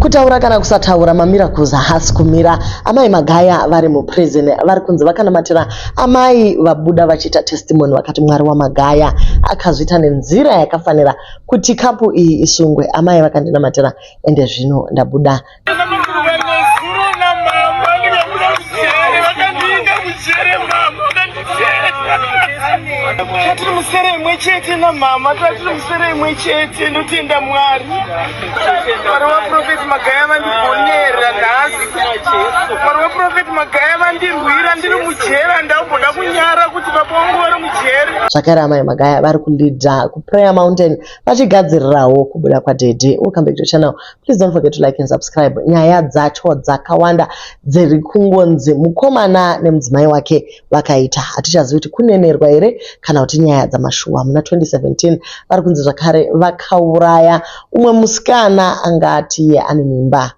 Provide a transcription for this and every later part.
Kutaura kana kusataura mamiracles haasi kumira. Amai Magaya vari muprison vari kunzi vakanamatira amai vabuda vachiita testimony vakati Mwari waMagaya akazviita nenzira yakafanira kuti kapu iyi isungwe. Amai vakandinamatira ende zvino ndabuda. Tatiri musere imwe chete namama, tatiri musere imwe chete, ndotenda Mwari. Mwari waprofeti Magaya vandigonera nhasi. Mwari waprofeti Magaya vandirwira ndiri mujera ndakuda kunyara kuti baba wangu vari mujera. Zvakare amai Magaya vari kulidha kuPrayer Mountain vachigadzirirawo kubuda kwaDhedhi. Welcome back to channel. Please don't forget to like and subscribe. Nyaya dzacho dzakawanda dziri kungonzi mukomana nemudzimai wake vakaita hatichazivi kuti kunenerwa here kana kuti nyaya dzamashuwa muna 2017 vari kunzi zvakare vakauraya umwe musikana anga atiye ane mimba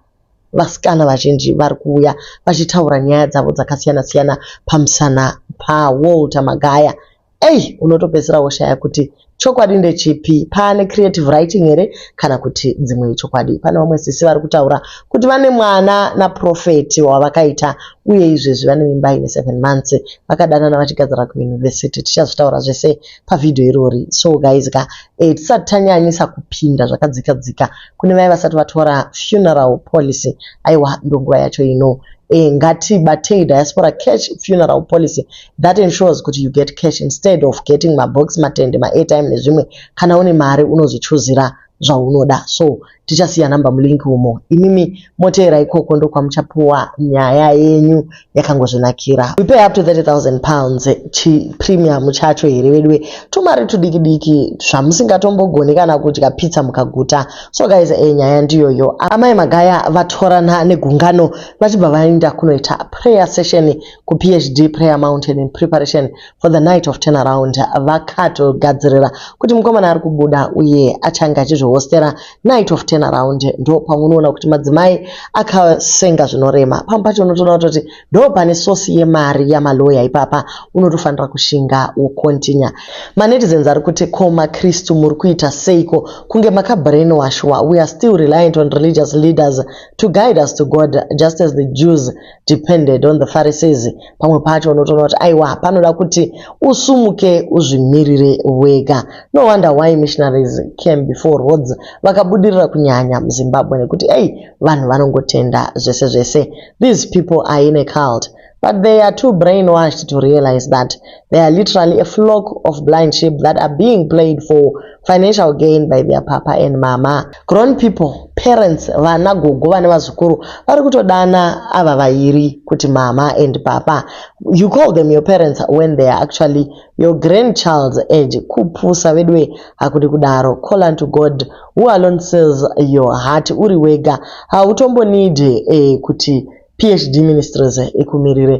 vasikana vazhinji vari kuuya vachitaura nyaya dzavo dzakasiyana siyana pamusana pawalter magaya ei unotopedzisira woshaya kuti Chokwadi ndechipi? Pane creative writing here kana kuti dzimwe chokwadi? Pane vamwe sisi vari kutaura kuti vane mwana naProphet wavakaita uye izvezvi vane mimba ine 7 months vakadanana vachigadzira kuuniversity. Tichazvitaura zvese pavideo irori. So guys ka eh, tisati tanyanyisa kupinda zvakadzika dzika kune vaye vasati vatora funeral policy. Aiwa ndonguva yacho ino. Eh, ngatibatei diaspora cash funeral policy That ensures kuti you get cash instead of getting mabox, matende, maairtime nezvimwe. Kana une mari unozvichuzira zvaunoda. So tichasiya number mulink umo. Imimi moteera ikoko ndokwamuchapuwa nyaya yenyu yakangozvinakira. We pay up to 30,000 pounds chi premium chacho here veduwe. Tumari tudiki diki zvamusingatombogoni kana kudya pizza mukaguta. So guys eh, nyaya ndiyoyo. Amai Magaya vatorana negungano vachibva vaenda kunoita prayer session kuPHD Prayer Mountain in preparation for the night of turnaround vakatogadzirira kuti mukomana ari kubuda uye achange achizvihostera night of turnaround ndo pamunoona kuti madzimai akasenga zvinorema pamwe pacho unotoona kutoti ndo pane sosi yemari yamaloya ipapa unotofanira kushinga wokontinya manetizens ari kuti ko makristu muri kuita seiko kunge makabrain washwa we are still reliant on religious leaders to guide us to god just as the jews depended on the Pharisees. Pamwe pacho unotoona kuti aiwa panoda kuti usumuke uzvimirire wega. No wonder why missionaries came before Rhodes vakabudirira kunyanya muZimbabwe nekuti ei vanhu vanongotenda zvese zvese. These people are in a cult. But they are too brainwashed to realize that they are literally a flock of blind sheep that are being played for financial gain by their papa and mama. Grown people, parents, vana, gogo vane vazukuru vari kutodana ava vairi kuti mama and papa. You call them your parents when they are actually your grandchild's age. Kupusa veduwe hakudi kudaro. Call unto God who alone sees your heart uri wega. Hautombonidi eh, kuti PHD Ministries ekumirire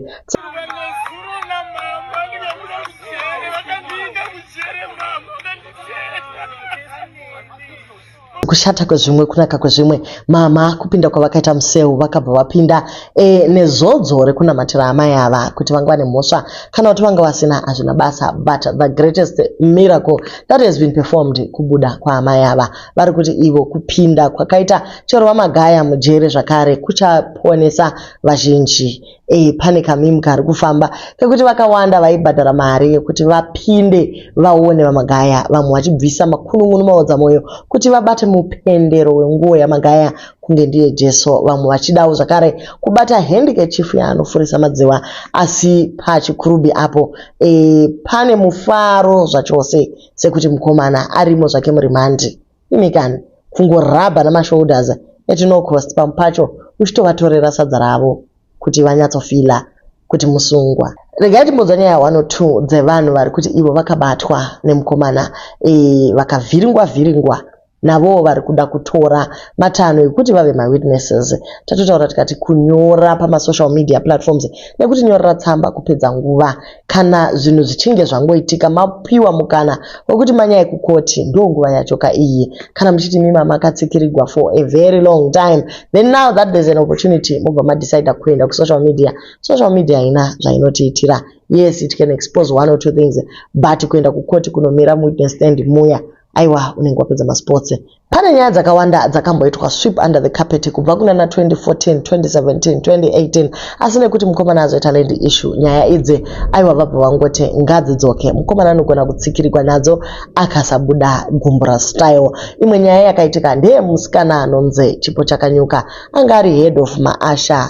kushata kwezvimwe kunaka kwezvimwe mama kupinda kwavakaita museu vakabva vapinda e, nezodzo rekunamatira amai ava kuti vanga vane mhosva kana kuti vanga vasina hazvina basa but the greatest miracle that has been performed kubuda kwaamai ava vari kuti ivo kupinda kwakaita Chirwa Magaya mujere zvakare kuchaponesa vazhinji. E, pane kamim kari kufamba kekuti vakawanda vaibhadhara mari yekuti vapinde vaone VaMagaya, vamwe vachibvisa makunun'unu maodzamwoyo kuti vabate mupendero wenguo yaMagaya kunge ndiye Jesu, vamwe vachidawo zvakare kubata handkerchifu yaanofurisa madziwa. Asi paChikurubi apo, e, pane mufaro zvachose. sekuti mukomana arimo zvake murimandi imi kani kungorabha namashoulders at no cost pamwe pacho uchitovatorera sadza ravo kuti vanyatsofila kuti musungwa regai timbonzwa nyaya one or two dzevanhu vari kuti ivo vakabatwa nemukomana e, vakavhiringwa vhiringwa navowo vari kuda kutora matanho ekuti vave mawitnesses tatotaura tikati kunyora pamasocial media platforms nekuti nyorera tsamba kupedza nguva kana zvinhu zvichinge zvangoitika mapiwa mukana wekuti manyaya kukoti ndo nguva yacho ka iyi kana muchiti mima makatsikirigwa for a very long time then now that there's an opportunity mobva madecide kuenda kusocial media social media haina zvainotiitira yes it can expose one or two things but kuenda kukoti kunomira muwitness stand muya aiwa unenge wapedza masports pane nyaya dzakawanda dzakamboitwa sweep under the carpet kubva kuna na 2014 2017 2018 asi nekuti mukomana azoita land issue nyaya idzi aiwa vabva vangoti ngadzidzoke mukomana anogona kutsikirigwa nadzo akasabuda gumbura style imwe nyaya yakaitika ndeye musikana anonzi chipo chakanyuka anga ari head of maasha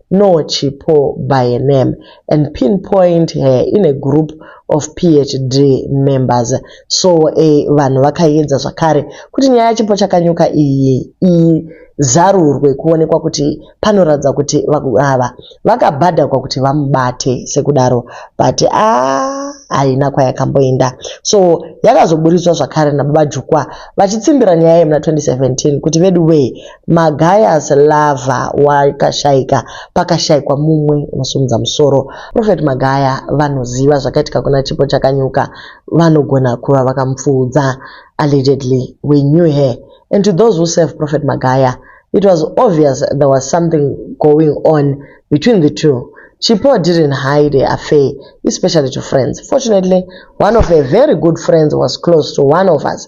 know Chipo by a name and pinpoint her in a group of PHD members. So a vanhu vakaedza zvakare kuti nyaya yaChipo Chakanyuka iyi izarurwe kuonekwa kuti panoratidza kuti ava vakabhadhakwa kuti vamubate sekudaro but ah, haina kwayakamboenda so yakazoburitswa zvakare nababa Jukwa vachitsimbira nyaya yemuna 2017 kuti veduwee Magayas lover wakashaika pakashaikwa mumwe unosimudza musoro. Prophet Magaya vanoziva zvakaitika kuna Chipo Chakanyuka vanogona kuva vakamupfuudza. Allegedly we knew her and to those who serve Prophet Magaya it was obvious there was something going on between the two. Chipo didn't hide her affair especially to friends. Fortunately one of her very good friends was close to one of us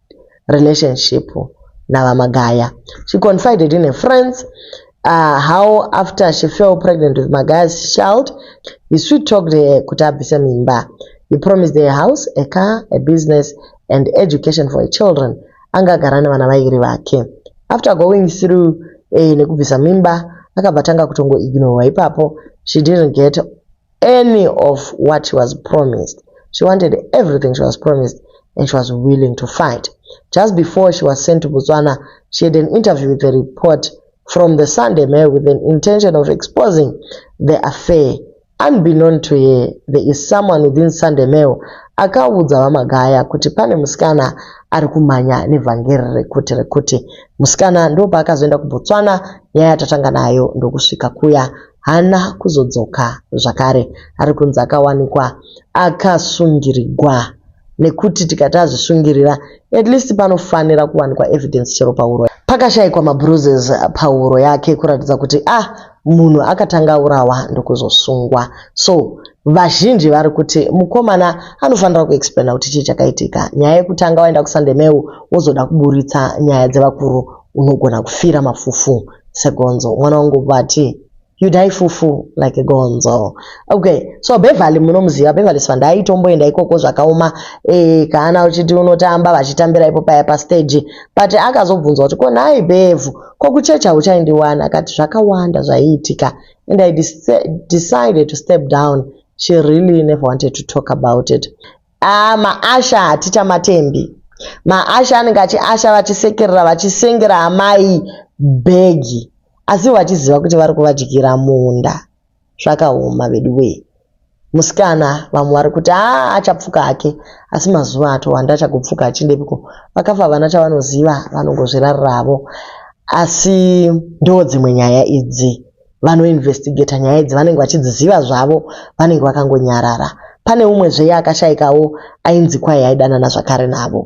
relationship naVaMagaya. She confided in her friends uh, how after she fell pregnant with Magaya's child, he sweet talked her kuti abvise mimba. He promised her a house, a car, a business and education for her children. Anga agara nevana vairi vake. After going through eh, nekubvisa mimba, akabva tanga kutongo ignore ipapo. She didn't get any of what she was promised. She wanted everything she was promised and she was willing to fight. Just before she was sent to Botswana, she had an interview with a report from the Sunday Mail with an intention of exposing the affair. Unbeknown to her, there is someone within Sunday Mail akaudza vamagaya kuti pane musikana ari kumhanya nevhangeri rekuti rekuti musikana ndopaakazoenda kubotswana nyaya yatatanga nayo ndokusvika kuya haana kuzodzoka zvakare ari kunzi akawanikwa akasungirigwa nekuti tikati azvisungirira at least panofanira kuwanikwa evidence chero pahuro pakashaikwa mabruises pahuro yake kuratidza kuti ah munhu akatanga aurawa ndokuzosungwa so vazhinji vari kuti mukomana anofanira kuexplaina kuti chii chakaitika nyaya yekutanga waenda kusandemeu wozoda kuburitsa nyaya dzevakuru unogona kufira mafufu segonzo mwana wangu vati you die fufu like gonzo okay so beverly munomuziva beverly sivanda aitomboenda ikoko zvakaoma e, eh, kaana uchiti unotamba vachitambira ipo paya pastage but akazobvunzwa kuti ko nhai bevhu ko kuchechi hauchaindiwana akati zvakawanda zvaiitika and i decided to step down she really never wanted to talk about it Ah, maasha hatichamatendi. Maasha anenge achiasha vachisekerera vachisengera amai bhegi asi vachiziva kuti vari kuvadyira munda. Zvakaoma veduwee. Musikana vamwe vari kuti haa achapfuka hake asi mazuva atowanda achagopfuka achindepiko. Vakafa havana chavanoziva vanongozvirarira havo asi ndoodzimwe nyaya idzi. vanoinvestigeta nyaya idzi vanenge vachidziziva zvavo vanenge vakangonyarara pane umwe zveye akashaikawo ainzi kwai aidanana zvakare navo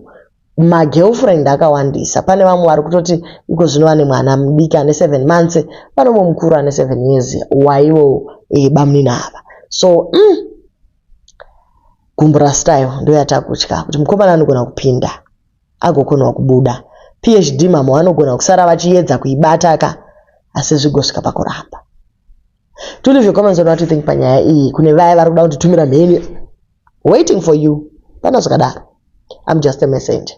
magirlfriend akawandisa pane vamwe vari kutoti iko zvino vane mwana mudiki ane seven months vanomwe mukuru ane seven years waivo e, eh, bamnina ava so mm, gumbura style ndoyatakutya kuti mukomana anogona kupinda agokonawo kubuda phd mamwe vanogona kusara vachiyedza kuibata ka asi zvigosvika pakuramba to leave your comments on what you think panyaya iyi kune vaya vari kuda kunditumira mheni waiting for you pana zvakadaro i'm just a messenger